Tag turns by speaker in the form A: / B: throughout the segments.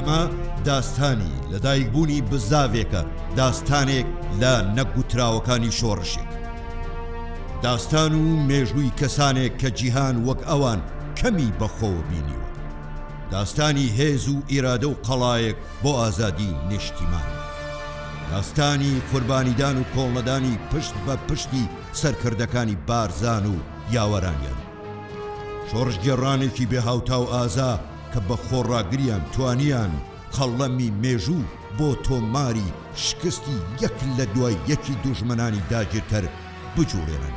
A: ئەمە داستانی لەدایکبوونی بزاڤێکە داستانێک لە نەگوتراوەکانی شۆڕشێک داستان و مێژووی کەسانێک کە جیهان وەک ئەوان کەمی بەخۆ بینیوە داستانی هێز و ئیرادە و قەڵایەک بۆ ئازادی نیشتیمان. داستانی قوربانیدان و کۆڵنەدانی پشت بە پشتی سەرکردەکانی بارزان و یاوەرانیان. شۆڕشگێڕانێکی بێ هاوتا و ئازا کە بە خۆڕاگریان توانیان قەڵەمی مێژوو بۆ تۆماری شکستی یەک لە دوای یەکی دوژمنانی داگیرکەر بجووڵێنن.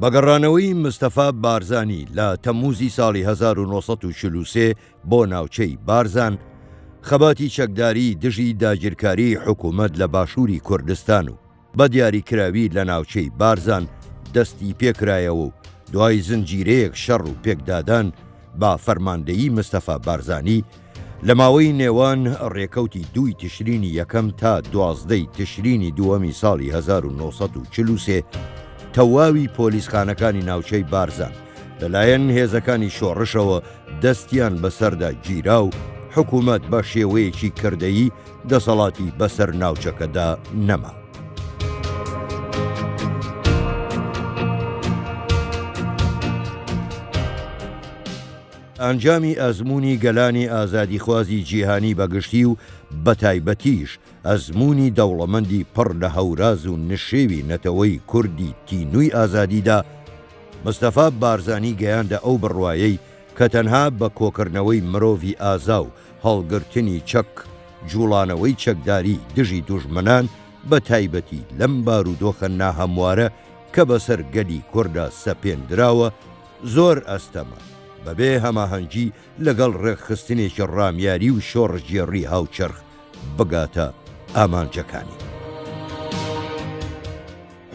A: بە گەڕانەوەی مستەفا بارزانی لە تەمووزی ساڵی 1940 بۆ ناوچەی بارزان، خەباتی چەکداری دژی داگیرکاری حکوومەت لە باشووری کوردستان و بە دیاریکراوی لە ناوچەی بارزان دەستی پێکرایەوە و دوای زنجیرەیەک شەڕ و پێکدادان بە فەرماندەیی مستەفا بارزانی، لە ماوەی نێوان ڕێکەوتی دووی تشرینی یەکەم تا دوازدەی تشرینی دووەمی ساڵی 1940 تەواوی پۆلیسخانەکانی ناوچەی بارزان لەلایەن هێزەکانی شۆڕشەوە دەستیان بەسەردا گیرا و حکوومەت بە شێوەیەکی کردەیی دەسەڵاتی بەسەر ناوچەکەدا نەما. ئەنجامی ئەزموونی گەلانی ئازادیخوازی جیهانی بە گشتی و بە تایبەتیش ئەزموونی دەوڵەمەندی پڕ لە هەوراز و نشێوی نەتەوەی کوردی تینووی ئازادیدا، مستەفا بارزانی گەیاندە ئەو بڕوایەی کە تەنها بە کۆکردنەوەی مرۆڤی ئازا و هەڵگرتنی چەک، جووڵانەوەی چەکداری دژی دوژمنان بە تایبەتی لەم بارودۆخە ناهەموارە کە بەسەر گەلی کوردا سەپێندراوە، زۆر ئەستەمە، بەبێ هەماهەنگی لەگەڵ ڕێکخستنێکی ڕامیاری و شۆڕشگێڕی هاوچەرخ بگاتە ئامانجەکانی.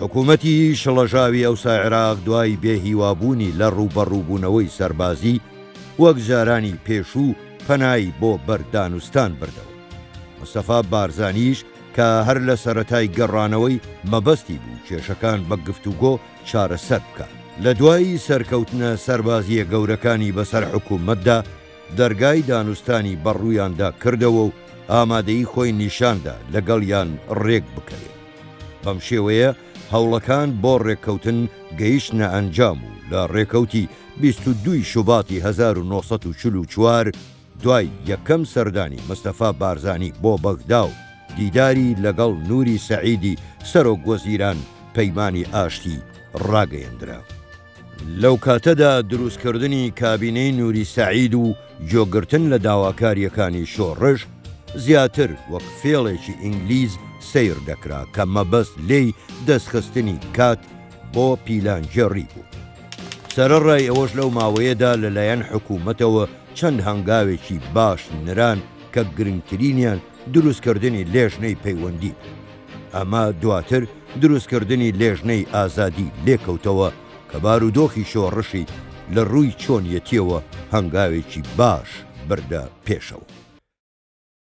A: حکوومەتی شڵەژاوی ئەوسا عێراق دوای بێهیوابوونی لە ڕووبەڕووبوونەوەی سەربازی، وەک جارانی پێشوو پەنای بۆ بەردانوستان بردەوە. مستەفا بارزانیش کە هەر لە سەرەتای گەڕانەوەی مەبەستی بوو کێشەکان بە گفتوگۆ چارەسەر بکات. لە دوایی سەرکەوتنە سەربازییە گەورەکانی بەسەر حکوومەتدا، دەرگای دانوستانی بەڕوویاندا کردەوە و ئامادەیی خۆی نیشاندا لەگەڵیان رێک بکەوێت. بەم شێوەیە هەوڵەکان بۆ رێککەوتن گەیشتنە ئەنجام و لە رێکەوتی بیست و دوو ی شوباتی هەزار و نۆ سەد و چل و چوار، دوای یەکەم سەردانی مستەفا بارزانی بۆ بەغدا و دیداری لەگەڵ نوری سەعیدی سەرۆک وەزیران پەیمانی ئاشتی ڕاگەیەندرا. لەو کاتەدا دروستکردنی کابینەی نوری سەعید و گوێگرتن لە داواکارییەکانی شۆڕش زیاتر وەک فێڵێکی ئینگلیز سەیر دەکرا کە مەبەست لێی دەستخستنی کات بۆ پیلانگێڕی بوو. سەرەڕای ئەوەش لەو ماوەیەدا لەلایەن حکوومەتەوە چەند هەنگاوێکی باش نران کە گرنگترینیان دروستکردنی لێژنەی پەیوەندی بوو. ئەمە دواتر دروستکردنی لێژنەی ئازادی لێکەوتەوە کە بارودۆخی شۆڕشی لە ڕووی چۆنیەتییەوە هەنگاوێکی باش بردە پێشەوە.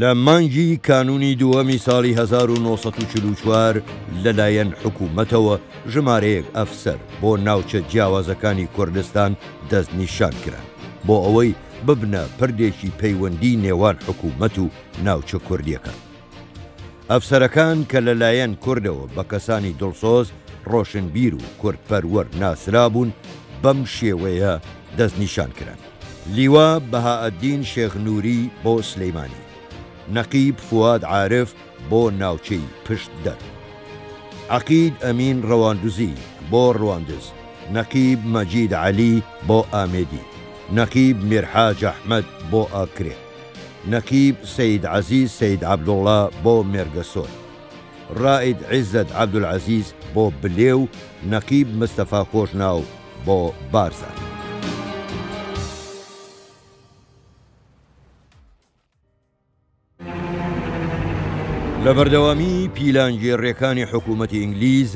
A: لە مانگی کانوونی دووەمی ساڵی هەزار و نۆ سەد و چل و چوار لەلایەن حکوومەتەوە ژمارەیەک ئەفسەر بۆ ناوچە جیاوازەکانی کوردستان دەستنیشان کران بۆ ئەوەی ببنە پردێکی پەیوەندی نێوان حکوومەت و ناوچە کوردییەکان. ئەفسەرەکان کە لەلایەن کوردەوە بە کەسانی دڵسۆز، ڕۆشنبیر و کوردپەروەر ناسرابوون بەم شێوەیە دەستنیشان کران. لیوا بەهائەدین شێخ نووری بۆ سلیمانی، نەقیب فواد عارف بۆ ناوچەی پشتدەر، عەقید ئەمین ڕەواندزی بۆ ڕواندز، نەقیب مەجید عەلی بۆ ئامێدی، نەقیب میرحاج ئەحمەد بۆ ئاکرێ، نەقیب سەید عەزیز سەید عەبدوڵڵا بۆ مێرگەسۆر، ڕائید عیزەت عەبدولعەزیز بۆ بلێ و نەقیب مستەفا خۆشناو بۆ بارزانی. لە بەردەوامی پیلانگێڕیەکانی حکوومەتی ئینگلیز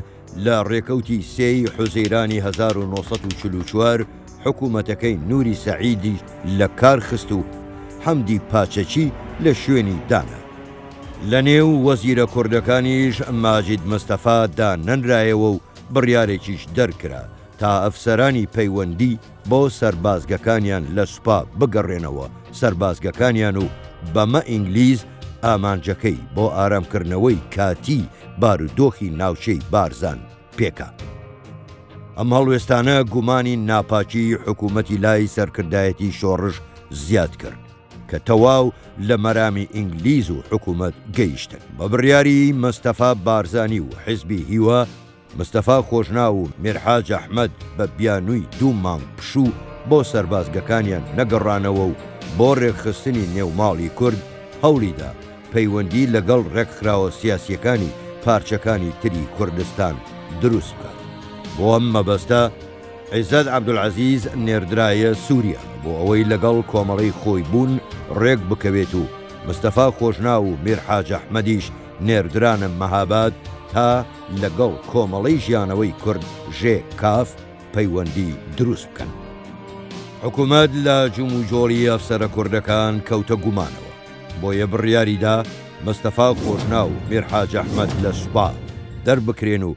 A: لە ڕێکەوتی سێی حوزەیرانی 1940 حکوومەتەکەی نوری سەعیدی لە کارخست و حەمدی پاچەچی لە شوێنی دانا. لە نێو وەزیرە کوردەکانیش ماجید مستەفا دانەنرایەوە و بڕیارێکیش دەرکرا تا ئەفسەرانی پەیوەندی بۆ سەربازگەکانیان لە سوپا بگەڕێنەوە سەربازگەکانیان و بەمە ئینگلیز ئامانجەکەی بۆ ئارامکردنەوەی کاتی بارودۆخی ناوچەی بارزان پێکا. ئەم هەڵوێستانە گومانی ناپاکی حکوومەتی لای سەرکردایەتی شۆڕش زیاد کرد. کە تەواو لە مەرامی ئینگلیز و حکوومەت گەیشتن. بە بڕیاری مەستەفا بارزانی و حیزبی هیوا، مستەفا خۆشناو و میرحاج ئەحمەد بە بیانووی دوو مانگ پشوو بۆ سەربازگەکانیان نەگەڕانەوە و بۆ ڕێکخستنی نێوماڵی کورد هەوڵی دا پەیوەندی لەگەڵ ڕێکخراوە سیاسییەکانی پارچەکانی تری کوردستان دروست بکات. بۆ ئەم مەبەستە، عیزەت عەبدولعەزیز نێردرایە سووریا بۆ ئەوەی لەگەڵ کۆمەڵەی خۆی بوون ڕێک بکەوێت و مستەفا خۆشناو و میر حاج ئەحمەدیش نێردرانە مەهاباد تا لەگەڵ کۆمەڵەی ژیانەوەی کورد، ژێ کاف، پەیوەندی دروست بکەن. حکوومەت لە جموجۆڵی ئەفسەرە کوردەکان کەوتە گومانەوە، بۆیە بڕیاری دا مستەفا خۆشناو و میر حاج ئەحمەد لە سوپا دەربکرێن و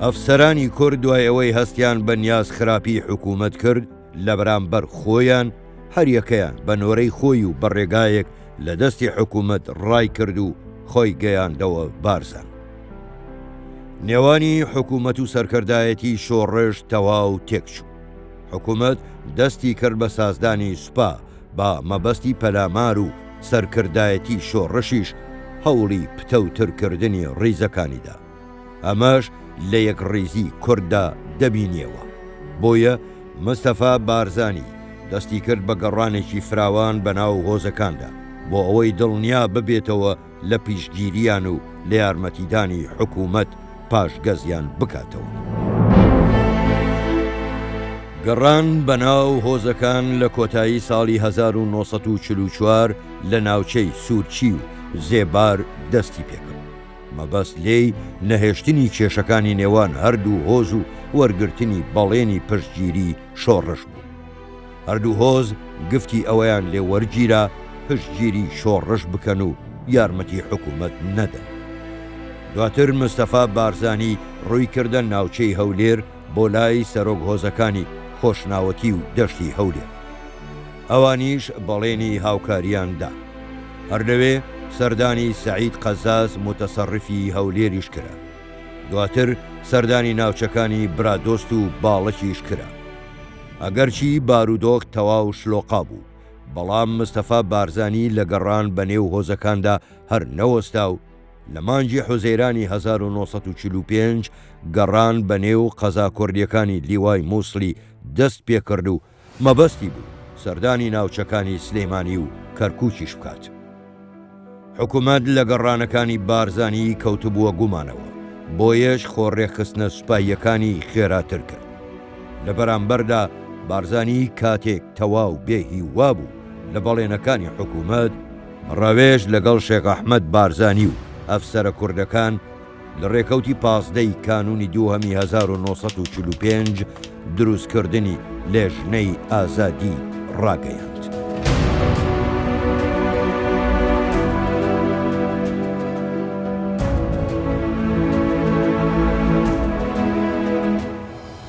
A: ئەفسەرانی کورد دوای ئەوەی هەستیان بە نیاز خراپی حکوومەت کرد لە بەرامبەر خۆیان هەریەکەیان بە نۆرەی خۆی و بە ڕێگایەک لە دەستی حکوومەت ڕای کرد و خۆی گەیاندەوە بارزان. نێوانی حکوومەت و سەرکردایەتی شۆڕش تەواو تێکچوو. حکوومەت دەستی کرد بە سازدانی سوپا با مەبەستی پەلامار و سەرکردایەتی شۆڕشیش هەوڵی پتەوترکردنی ڕیزەکانیدا ئەمەش لە یەکڕیزی کورددا دەبینیەوە، بۆیە مستەفا بارزانی دەستیکرد بە گەڕانێکی فراوان بەناو هۆزەکاندا بۆ ئەوەی دڵنیاببێتەوە، لە پشتگیریان و لە یارمەتیدانی حکوومەت پاشگەزیان بکاتەوە. گەڕان بە ناو هۆزەکان لە کۆتایی ساڵی 1944 لە ناوچەی سوورچی و زێبار دەستی پێ کرد. مەبەست لێی نەهێشتنی کێشەکانی نێوان هەردوو هۆز و وەرگرتنی بەڵێنی پشتگیری شۆڕش بوو. هەردوو هۆز گفتی ئەوەیان لێ وەرگیرا پشتگیری شۆڕش بکەن و یارمەتی حکوومەت نەدەن. دواتر مستەفا بارزانی ڕووی کردە ناوچەی هەولێر بۆ لای سەرۆک هۆزەکانی خۆشناوەتی و دەشتی هەولێر. ئەوانیش بەڵێنی هاوکارییان دا. هەر لەوێ سەردانی سەعید قەزاز موتەسەڕیفی هەولێریش کرا. دواتر سەردانی ناوچەکانی برادۆست و باڵەکیش کرا. ئەگەرچی بارودۆخ تەواو شلۆقا بوو، بەڵام مستەفا بارزانی لە گەڕان بە نێو هۆزەکاندا هەر نەوەستا و لە مانگی حوزەیرانی هەزار و نۆ سەد و چل و پێنج گەڕان بە نێو قەزا کوردییەکانی لیوای موسڵی دەست پێ کرد و مەبەستی بوو سەردانی ناوچەکانی سلێمانی و کەرکووکیش بکات. حکومەت لە گەڕانەکانی بارزانیی کەوتبووە گومانەوە، بۆیەش خۆ ڕێکخستنە سوپاییەکانی خێراتر کرد. لە بەرامبەردا بارزانیی کاتێک تەواو بێ هیوا بوو لە بەڵێنەکانی حکومەت، ڕەوێش لەگەڵ شێخ ئەحمەد بارزانی و ئەفسەرە کوردەکان لە ڕێکەوتی پازدە ی کانونی دووهەمی هەزار و نۆ سەد و چل و پێنج دروستکردنی لێژنەی ئازادی ڕاگەیاند.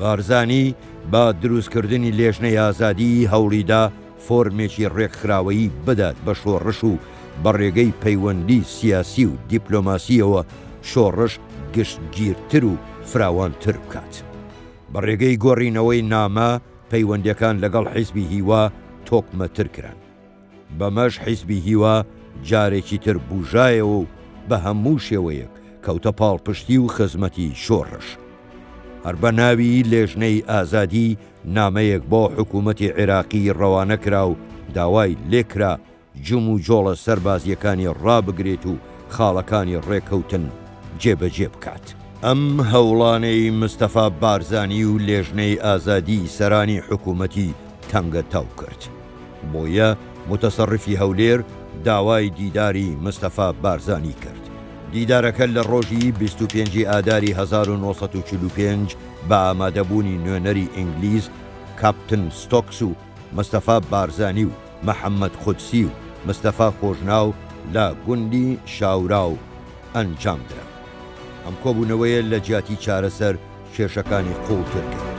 A: بارزانی بە دروستکردنی لێژنەی ئازادیی هەوڵیدا فۆرمێکی ڕێکخراوەیی بدات بە شۆڕش و بە ڕێگەی پەیوەندی سیاسی و دیپلۆماسییەوە شۆڕش گشتگیرتر و فراوانتر بکات. بە ڕێگەی گۆڕینەوەی نامە، پەیوەندییەکان لەگەڵ حیزبی هیوا تۆکمەتر کران. بەمەش حیزبی هیوا جارێکی تر بووژایەوە و بە هەموو شێوەیەک کەوتە پاڵپشتی و خزمەتی شۆڕش. هەر بە ناوی لێژنەی ئازادی نامەیەک بۆ حکوومەتی عێراقی ڕەوانە کرا و داوای لێ کرا جموجۆڵە سەربازییەکانی ڕابگرێت و خاڵەکانی ڕێکەوتن جێبەجێ بکات. ئەم هەوڵانەی مستەفا بارزانی و لێژنەی ئازادی سەرانی حکوومەتی تەنگەتاو کرد. بۆیە موتەسەڕیفی هەولێر داوای دیداری مستەفا بارزانی کرد. دیدارەکە لە ڕۆژی بیست و پێنج ی ئاداری هەزار و نۆ سەد و چل و پێنج بە ئامادەبوونی نوێنەری ئینگلیز کاپتن ستۆکس و مستەفا بارزانی و محەمەد قودسی و مستەفا خۆشناو لە گوندی شاوراو ئەنجامدرا. ئەم کۆبوونەوەیە لە جیاتی چارەسەر، کێشەکانی قووڵتر کرد.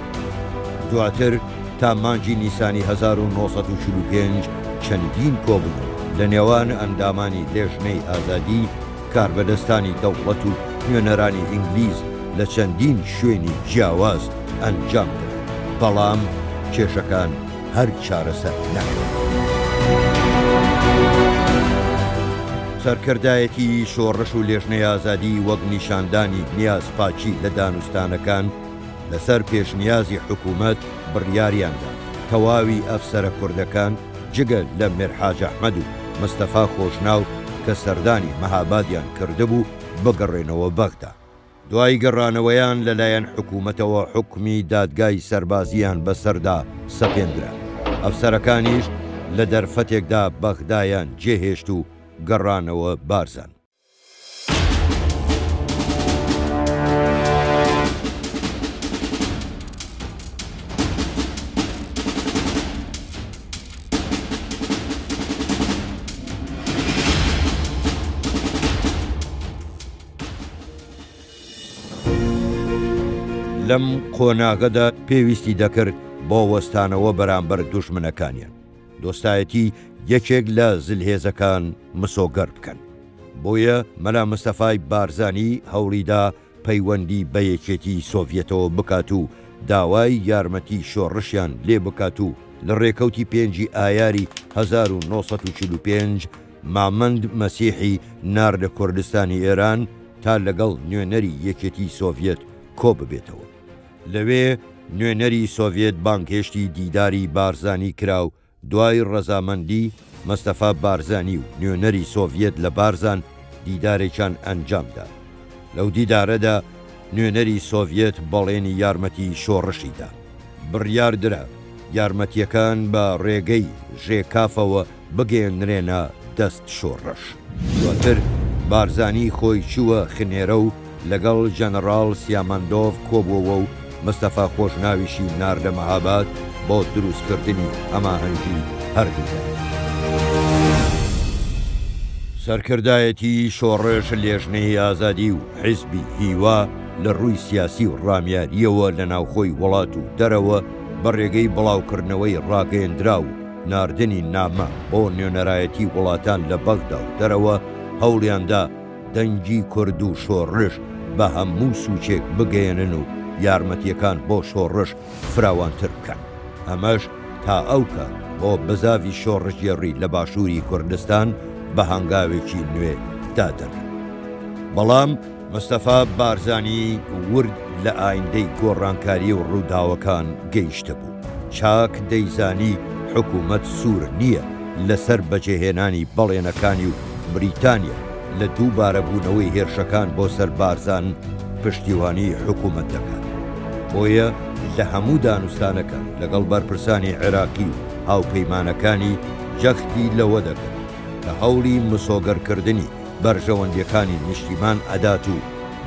A: دواتر تا مانگی نیسانی هەزار و نۆ سەد و چل و پێنج چەندین کۆبوونەوە لە نێوان ئەندامانی لێژنەی ئازادی، کاربەدەستانی دەوڵەت و نوێنەرانی ئینگلیز لە چەندین شوێنی جیاواز ئەنجامدرا، بەڵام کێشەکان هەر چارەسەر نەکرێت. سەرکردایەتی شۆڕش و لێژنەی ئازادی وەک نیشاندانی نیازپاکی لە دانوستانەکان لەسەر پێشنیازی حکوومەت بڕیاریان دا تەواوی ئەفسەرە کوردەکان جگە لە میرحاج ئەحمەد و مستەفا خۆشناو کە سەردانی مەهابادیان کردبوو بگەڕێنەوە بەغدا. دوای گەڕانەوەیان لەلایەن حکوومەتەوە حوکمی دادگای سەربازییان بەسەردا سەپێندرا، ئەفسەرەکانیش لە دەرفەتێکدا بەغدایان جێهێشت و گەڕانەوە بارزان. لەم قۆناغەدا پێویستی دەکرد بۆ وەستانەوە بەرامبەر دوژمنەکانیان، دۆستایەتی یەکێک لە زلهێزەکان مسۆگەر بکەن. بۆیە مەلا مستەفای بارزانی هەوڵیدا پەیوەندی بە یەکێتی سۆڤیەتەوە بکات و داوای یارمەتی شۆڕشیان لێ بکات و لە رێکەوتی پێنجی ئایاری هەزار و نۆ سەد و چل و پێنج مامەند مەسیحی ناردە کوردستانی ئێران تا لەگەڵ نوێنەری یەکێتیی سۆڤیەت کۆ ببێتەوە. لەوێ نوێنەری سۆڤیەت بانگهێشتی دیداری بارزانی کرا و دوای ڕەزامەندی مەستەفا بارزانی و نوێنەری سۆڤیەت لە بارزان دیدارێکیان ئەنجام دا. لەو دیدارەدا نوێنەری سۆڤیەت بەڵێنی یارمەتی شۆڕشی دا. بڕیار درا یارمەتییەکان بە ڕێگەی ژێکافەوە بگەیەنرێنە دەست شۆڕش. دواتر بارزانی خۆی چووە خنێرە و لەگەڵ ژەنەڕاڵ سیامەندۆڤ کۆبووەوە و مستەفا خۆشناویشی ناردە مەهاباد بۆ دروستکردنی هەماهەنگی هەردوولا. سەرکردایەتیی شۆڕش، لێژنەی ئازادی و حیزبی هیوا لە رووی سیاسی و رامیارییەوە لە ناوخۆی وڵات و دەرەوە بە رێگەی بڵاوکردنەوەی راگەیەندراو، ناردنی نامە بۆ نوێنەرایەتی وڵاتان لە بەغدا و دەرەوە، هەوڵیاندا دەنگی کورد و شۆڕش بە هەموو سوچێک بگەیەنن و یارمەتییەکان بۆ شۆڕش فراوانتر بکەن، ئەمەش تا ئەو کات بۆ بزاڤی شۆڕشگێڕی لە باشووری کوردستان بە هەنگاوێکی نوێ دادەنا. بەڵام. مستەفا بارزانیی ورد لە ئایندەی گۆڕانکاری و ڕووداوەکان گەیشتبوو. چاک دەیزانی حکوومەت سوور نییە لەسەر بەجێهێنانی بەڵێنەکانی و بریتانیا لە دووبارەبوونەوەی هێرشەکان بۆ سەر بارزان پشتیوانیی حکوومەت دەکات. بۆیە لە هەموو دانوستانەکان لەگەڵ بەرپرسانی عێراقی و هاوپەیمانەکانی جەختی لەوە دەکرد کە هەوڵی مسۆگەرکردنی بەرژەوەندیەکانی نیشتیمان ئەدات و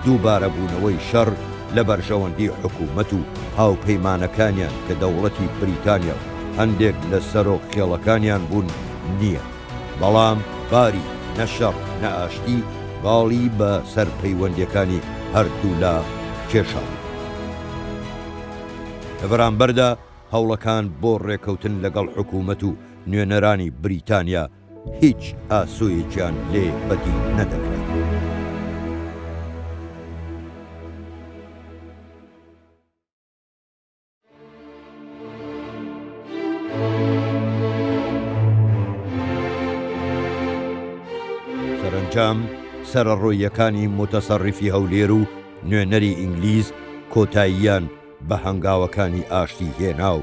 A: دووبارە بوونەوەی شەڕ لە بەرژەوەندی حکوومەت و هاوپەیمانەکانیان کە دەوڵەتی بریتانیا و هەندێک لە سەرۆک خێڵەکانیان بوون نییە بەڵام باری نە شەڕ نە ئاشتی باڵی بە سەر پەیوەندیەکانی هەردوو لا کێشاوە. لە بەرامبەردا هەوڵەکان بۆ ڕێکەوتن لەگەڵ حکوومەت و نوێنەرانی بریتانیا هیچ ئاسۆیەکیان لێ بەدی نەدەکرا. سەرەنجام سەرەڕۆییەکانی موتەسەڕیفی هەولێر و نوێنەری ئینگلیز کۆتاییان بە هەنگاوەکانی ئاشتی هێنا و،